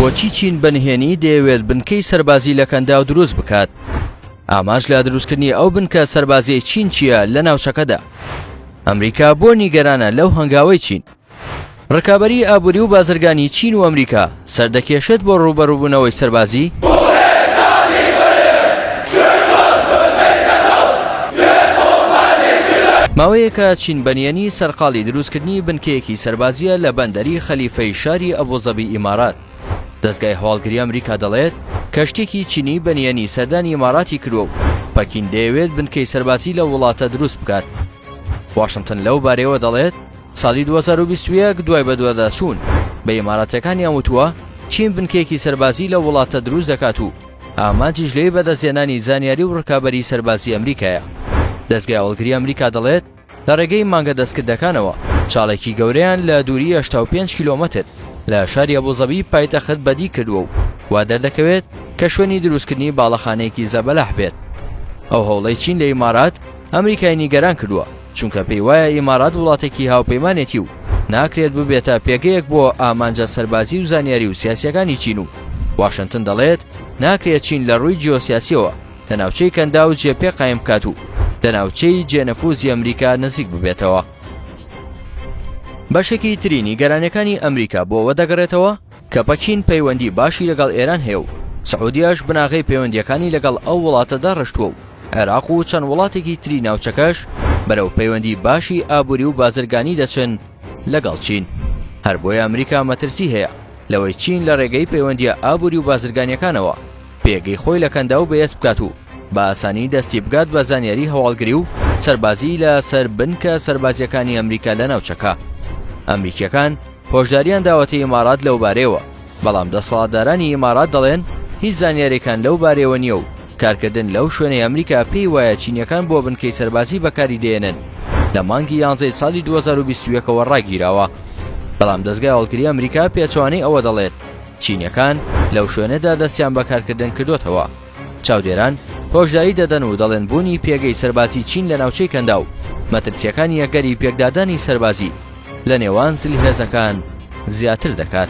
بۆچی چین بە نهێنی دەیەوێت بنکەی سەربازی لە کەنداو دروست بکات؟ ئاماژ لە دروستکردنی ئەو بنکە سەربازیی چین چییە لە ناوچەکەدا؟ ئەمریکا بۆ نیگەرانە لەو هەنگاوەی چین؟ ڕکابەریی ئابووری و بازرگانیی چین و ئەمریکا سەردەکێشێت بۆ ڕووبەڕووبوونەوەی سەربازی؟ ماوەیەکە چین بەنیەنی سەرقاڵی دروستکردنی بنکەیەکی سەربازییە لە بەندەری خەلیفەی شاری ئەبوزەبی ئیمارات، دەزگای هەواڵگری ئەمریکا دەڵێت کەشتییەکی چینی بەنیەنی سەردانی ئیماراتی کردووە و پەکین دەیەوێت بنکەی سەربازی لەو وڵاتە دروست بکات. واشنتن لەو بارەیەوە دەڵێت، ساڵی دوو هەزار و بیست و یەک دوای بەدواداچوون بە ئیماراتییەکانیان وتووە، چین بنکەیەکی سەربازی لەو وڵاتە دروست دەکات و ئامانجیش لێی بەدەستهێنانی زانیاری و ڕکابەریی سەربازیی ئەمریکایە. دەزگای هەواڵگریی ئەمریکا دەڵێت، لە ڕێگەی مانگە دەستکردەکانەوە چاڵێکی گەورەیان لە دووریی هەشتا و پێنج کیلۆمەتر لە شاری ئەبوزەبی پایتەخت بەدی کردووە و وا دەردەکەوێت کە شوێنی دروستکردنی باڵەخانەیەکی زەبەلاح بێت. ئەو هەوڵەی چین لە ئیمارات، ئەمریکای نیگەران کردووە. چونکە پێی وایە ئیمارات وڵاتێکی هاوپەیمانێتی و ناکرێت ببێتە پێگەیەک بۆ ئامانجە سەربازی و زانیاری و سیاسیەکانی چین و واشنتن دەڵێت ناکرێت چین لە ڕووی جیۆسیاسیەوە لە ناوچەی کەندا و جێ پێ قایم بکات و لە ناوچەی جێنەفوزی ئەمریکا نزیک ببێتەوە بەشێکی ترینی گەرانەکانی ئەمریکا بۆ وەدەگەڕێتەوە کە پەکین پەیوەندی باشی لەگەڵ ئێران هەیە و سعودیەش بناغەی پەیوەندییەکانی لەگەڵ ئەو وڵاتە داڕشتووە و عێراق و چەند وڵاتێکی تری ناوچەکەش بەرەو پەیوەندی باشی ئابووری و بازرگانی دەچن لەگەڵ چین هەر بۆیە ئەمریکا مەترسی هەیە لەوەی چین لە ڕێگەی پەیوەندیە ئابووری و بازرگانیەکانەوە پێگەی خۆی لە کەنداو بەهێز بکات و بە ئاسانی دەستی بگات بە زانیاری هەواڵگری و سەربازی لە سەر بنکە سەربازیەکانی ئەمریکا لە ناوچەکە ئەمریکیەکان هۆشدارییان داوەتە ئیمارات لەوبارەیەوە، بەڵام دەسەڵاتدارانی ئیمارات دەڵێن هیچ زانیارییەکان لەو بارەیەوە نییە و کارکردن لەو شوێنەی ئەمریکا پێی وایە چینییەکان بۆ بنکەی سەربازی بەکاری دەیەنن لە مانگی یانزەی ساڵی دوو هەزار و بیست و یەک ەوە ڕاگیراوە. بەڵام دەزگای هەواڵگری ئەمریکا پێچەوانەی ئەوە دەڵێت چینییەکان لەو شوێنەدا دەستیان بە کارکردن کردووەتەوە. چاودێران هۆشداری دەدەن و دەڵێن بوونی پێگەی سەربازی چین لە ناوچەی کەندا و مەترسییەکانی ئەگەری پێکدادانی سەربازی لە نێوان زلهێزەکان زیاتر دەکات.